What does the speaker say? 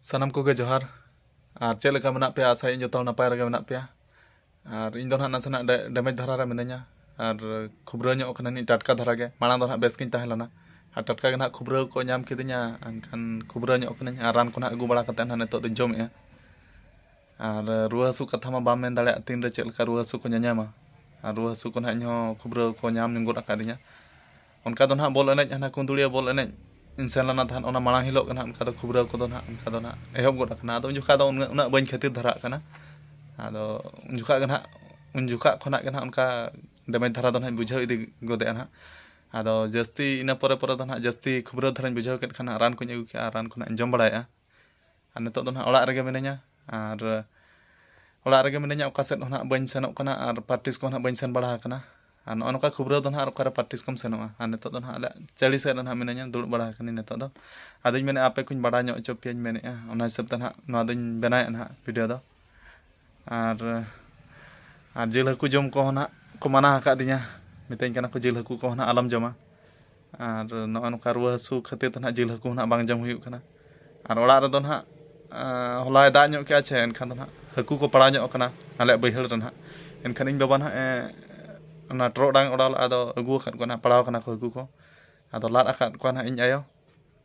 ᱥᱟᱱᱟᱢ ᱠᱚᱜᱮ ᱡᱚᱦᱟᱨ ᱟᱨ ᱪᱮᱫ ᱞᱮᱠᱟ ᱢᱮᱱᱟᱜ ᱯᱮᱭᱟ ᱟᱥᱟᱭᱟᱹᱧ ᱡᱚᱛᱚ ᱦᱚᱲ ᱱᱟᱯᱟᱭ ᱨᱮᱜᱮ ᱢᱮᱱᱟᱜ ᱯᱮᱭᱟ ᱟᱨ ᱤᱧ ᱫᱚ ᱱᱟᱦᱟᱜ ᱱᱟᱥᱮᱱᱟᱜ ᱰᱮᱢᱮᱡᱽ ᱫᱷᱟᱨᱟ ᱨᱮ ᱢᱤᱱᱟᱹᱧᱟ ᱟᱨ ᱠᱷᱩᱵᱽᱨᱟᱹ ᱧᱚᱜ ᱠᱟᱹᱱᱟᱹᱧ ᱴᱟᱴᱠᱟ ᱫᱷᱟᱨᱟ ᱜᱮ ᱢᱟᱲᱟᱝ ᱫᱚ ᱱᱟᱦᱟᱜ ᱵᱮᱥ ᱜᱤᱧ ᱛᱟᱦᱮᱸ ᱞᱮᱱᱟ ᱟᱨ ᱴᱟᱴᱠᱟ ᱜᱮ ᱱᱟᱦᱟᱜ ᱠᱷᱩᱵᱽᱨᱟᱹ ᱠᱚ ᱧᱟᱢ ᱠᱤᱫᱤᱧᱟ ᱮᱱᱠᱷᱟᱱ ᱠᱷᱩᱵᱽᱨᱟᱹ ᱧᱚᱜ ᱠᱟᱹᱱᱟᱹᱧ ᱟᱨ ᱨᱟᱱ ᱠᱚ ᱱᱟᱦᱟᱜ ᱟᱹᱜᱩ ᱵᱟᱲᱟ ᱠᱟᱛᱮ ᱱᱟᱦᱟᱜ ᱱᱤᱛᱚᱜ ᱫᱚᱧ ᱡᱚᱢᱮᱜᱼᱟ ᱟᱨ ᱨᱩᱣᱟᱹ ᱦᱟᱹᱥᱩ ᱠᱟᱛᱷᱟ ᱢᱟ ᱵᱟᱢ ᱢᱮᱱ ᱫᱟᱲᱮᱭᱟᱜᱼᱟ ᱛᱤᱱ ᱨᱮ ᱪᱮᱫ ᱞᱮᱠᱟ ᱨᱩᱣᱟᱹ ᱦᱟᱹᱥᱩ ᱠᱚ ᱧᱟᱧᱟᱢᱟ ᱟᱨ ᱨᱩᱣᱟᱹ ᱦᱟᱹᱥᱩ ᱠᱚ ᱱᱟᱦᱟᱜ ᱤᱧ ᱦᱚᱸ ᱠᱷᱩᱵᱽᱨᱟᱹ ᱠᱚ ᱧᱟᱢ ᱜᱚᱫ ᱟᱠᱟᱫᱤᱧᱟ ᱚᱱᱠᱟ ᱫᱚ ᱱᱟᱦᱟᱜ ᱵᱚᱞ ᱮᱱᱮᱡ ᱦᱟᱱᱟ ᱠᱩᱸᱫᱽᱲᱤᱭᱟᱹ ᱵᱚᱞ ᱮᱱᱮᱡ ᱤᱧ ᱥᱮᱱ ᱞᱮᱱᱟ ᱛᱟᱦᱮᱸᱫ ᱚᱱᱟ ᱢᱟᱲᱟᱝ ᱦᱤᱞᱳᱜ ᱜᱮ ᱱᱟᱦᱟᱜ ᱚᱱᱠᱟ ᱫᱚ ᱠᱷᱩᱵᱽᱨᱟᱹ ᱠᱚᱫᱚ ᱱᱟᱦᱟᱜ ᱚᱱᱠᱟ ᱫᱚ ᱱᱟᱦᱟᱜ ᱮᱦᱚᱵ ᱜᱚᱫ ᱟᱠᱟᱱᱟ ᱟᱫᱚ ᱩᱱ ᱡᱚᱠᱷᱟᱜ ᱫᱚ ᱩᱱᱟᱹᱜ ᱩᱱᱟᱹᱜ ᱵᱟᱹᱧ ᱠᱷᱟᱹᱛᱤᱨ ᱫᱷᱟᱨᱟᱜ ᱠᱟᱱᱟ ᱟᱫᱚ ᱩᱱ ᱡᱚᱠᱷᱟᱜ ᱜᱮ ᱱᱟᱦᱟᱜ ᱩᱱ ᱡᱚᱠᱷᱟᱜ ᱠᱷᱚᱱᱟᱜ ᱜᱮ ᱱᱟᱦᱟᱜ ᱚᱱᱠᱟ ᱰᱮᱢᱮᱡᱽ ᱫᱷᱟᱨᱟ ᱫᱚ ᱱᱟᱦᱟᱜ ᱵᱩᱡᱷᱟᱹᱣ ᱤᱫᱤ ᱜᱚᱫᱮᱜᱼᱟ ᱱᱟᱦᱟᱜ ᱟᱫᱚ ᱡᱟᱹᱥᱛᱤ ᱤᱱᱟᱹ ᱯᱚᱨᱮ ᱯᱚᱨᱮ ᱫᱚ ᱱᱟᱦᱟᱜ ᱡᱟᱹᱥᱛᱤ ᱠᱷᱩᱵᱽᱨᱟᱹ ᱫᱷᱟᱨᱟᱧ ᱵᱩᱡᱷᱟᱹᱣ ᱠᱮᱫ ᱠᱷᱟᱱ ᱨᱟᱱ ᱠᱚᱧ ᱟᱹᱜᱩ ᱠᱮᱜᱼᱟ ᱨᱟᱱ ᱠᱚ ᱱᱟᱦᱟᱜ ᱤᱧ ᱡᱚᱢ ᱵᱟᱲᱟᱭᱮᱜᱼᱟ ᱟᱨ ᱱᱤᱛᱚᱜ ᱫᱚ ᱱᱟᱦᱟᱜ ᱚᱲᱟᱜ ᱨᱮᱜᱮ ᱢᱤᱱᱟᱹᱧᱟ ᱟᱨ ᱚᱲᱟᱜ ᱨᱮᱜᱮ ᱢᱤᱱᱟᱹᱧᱟ ᱚᱠᱟ ᱥᱮᱫ ᱦᱚᱸ ᱱᱟᱦᱟᱜ ᱵᱟᱹᱧ ᱥᱮᱱᱚᱜ ᱠᱟᱱᱟ ᱟᱨ ᱯᱨᱮᱠᱴᱤᱥ ᱠᱚᱦᱚᱸ ᱱᱟᱦᱟᱜ ᱵᱟᱹᱧ ᱥᱮᱱ ᱵᱟᱲᱟ ᱟᱠᱟᱱᱟ ᱟᱨ ᱱᱚᱜᱼᱚᱸᱭ ᱱᱚᱝᱠᱟ ᱠᱷᱩᱵᱨᱟᱹ ᱫᱚ ᱱᱟᱦᱟᱜ ᱚᱠᱟᱨᱮ ᱯᱨᱮᱠᱴᱤᱥ ᱠᱚᱢ ᱥᱮᱱᱚᱜᱼᱟ ᱟᱨ ᱱᱤᱛᱚᱜ ᱫᱚ ᱱᱟᱦᱟᱜ ᱟᱞᱮ ᱪᱟᱹᱞᱤ ᱥᱮᱫ ᱨᱮ ᱱᱟᱦᱟᱜ ᱢᱤᱱᱟᱹᱧᱟ ᱫᱩᱲᱩᱵ ᱵᱟᱲᱟ ᱟᱠᱟᱱᱟᱹᱧ ᱱᱤᱛᱚᱜ ᱫᱚ ᱟᱫᱚᱧ ᱢᱮᱱᱮᱜᱼᱟ ᱟᱯᱮ ᱠᱚᱧ ᱵᱟᱲᱟᱭ ᱧᱚᱜ ᱦᱚᱪᱚ ᱯᱮᱭᱟᱧ ᱢᱮᱱᱮᱜᱼᱟ ᱚᱱᱟ ᱦᱤᱥᱟᱹᱵ ᱛᱮ ᱱᱟᱦᱟᱜ ᱱᱚᱣᱟ ᱫᱚᱧ ᱵᱮᱱᱟᱣᱮᱜᱼᱟ ᱱᱟᱦᱟᱜ ᱵᱷᱤᱰᱭᱳ ᱫᱚ ᱟᱨ ᱟᱨ ᱡᱤᱞ ᱦᱟᱹᱠᱩ ᱡᱚᱢ ᱠᱚᱦᱚᱸ ᱱᱟᱜ ᱠᱚ ᱢᱟᱱᱟ ᱟᱠᱟᱫᱤᱧᱟ ᱢᱤᱛᱟᱹᱧ ᱠᱟᱱᱟ ᱠᱚ ᱡᱤᱞ ᱦᱟᱹᱠᱩ ᱠᱚᱦᱚᱸ ᱱᱟᱜ ᱟᱞᱚᱢ ᱡᱚᱢᱟ ᱟᱨ ᱱᱚᱜᱼᱚᱭ ᱱᱚᱝᱠᱟ ᱨᱩᱣᱟᱹ ᱦᱟᱹᱥᱩ ᱠᱷᱟᱹᱛᱤᱨ ᱛᱮ ᱱᱟᱜ ᱡᱤᱞ ᱦᱟᱹᱠᱩ ᱦᱚᱸ ᱱᱟᱜ ᱵᱟᱝ ᱡᱚᱢ ᱦᱩᱭᱩᱜ ᱠᱟᱱᱟ ᱟᱨ ᱚᱲᱟᱜ ᱨᱮᱫᱚ ᱱᱟᱜ ᱦᱚᱞᱟᱭ ᱫᱟᱜ ᱧᱚᱜ ᱠᱮᱜᱼᱟ ᱥᱮ ᱮᱱᱠᱷᱟᱱ ᱫᱚ ᱱᱟᱜ ᱦᱟᱹᱠᱩ ᱠᱚ ᱯᱟᱲᱟᱣ ᱧᱚᱜ ᱠᱟᱱᱟ ᱟᱞᱮᱭᱟᱜ ᱵᱟᱹᱭᱦᱟᱹᱲ ᱨᱮ ᱱᱟᱜ ᱮᱱᱠᱷᱟᱱ ᱤᱧ ᱵᱟᱵᱟ ᱱᱟᱜ ᱮ ᱚᱱᱟ ᱴᱚᱨᱚᱰᱟᱝ ᱮ ᱚᱰᱟᱣ ᱞᱟᱜᱼᱟ ᱟᱫᱚ ᱟᱹᱜᱩ ᱟᱠᱟᱫ ᱠᱚᱣᱟᱭ ᱱᱟᱜ ᱯᱟᱲᱟᱣ ᱠᱟᱱᱟ ᱠᱚ ᱦᱟᱹᱠᱩ ᱠᱚ ᱟᱫᱚ ᱞᱟᱫ ᱟᱠᱟᱫ ᱠᱚᱣᱟᱭ ᱱᱟᱜ ᱤᱧ ᱟᱭᱳ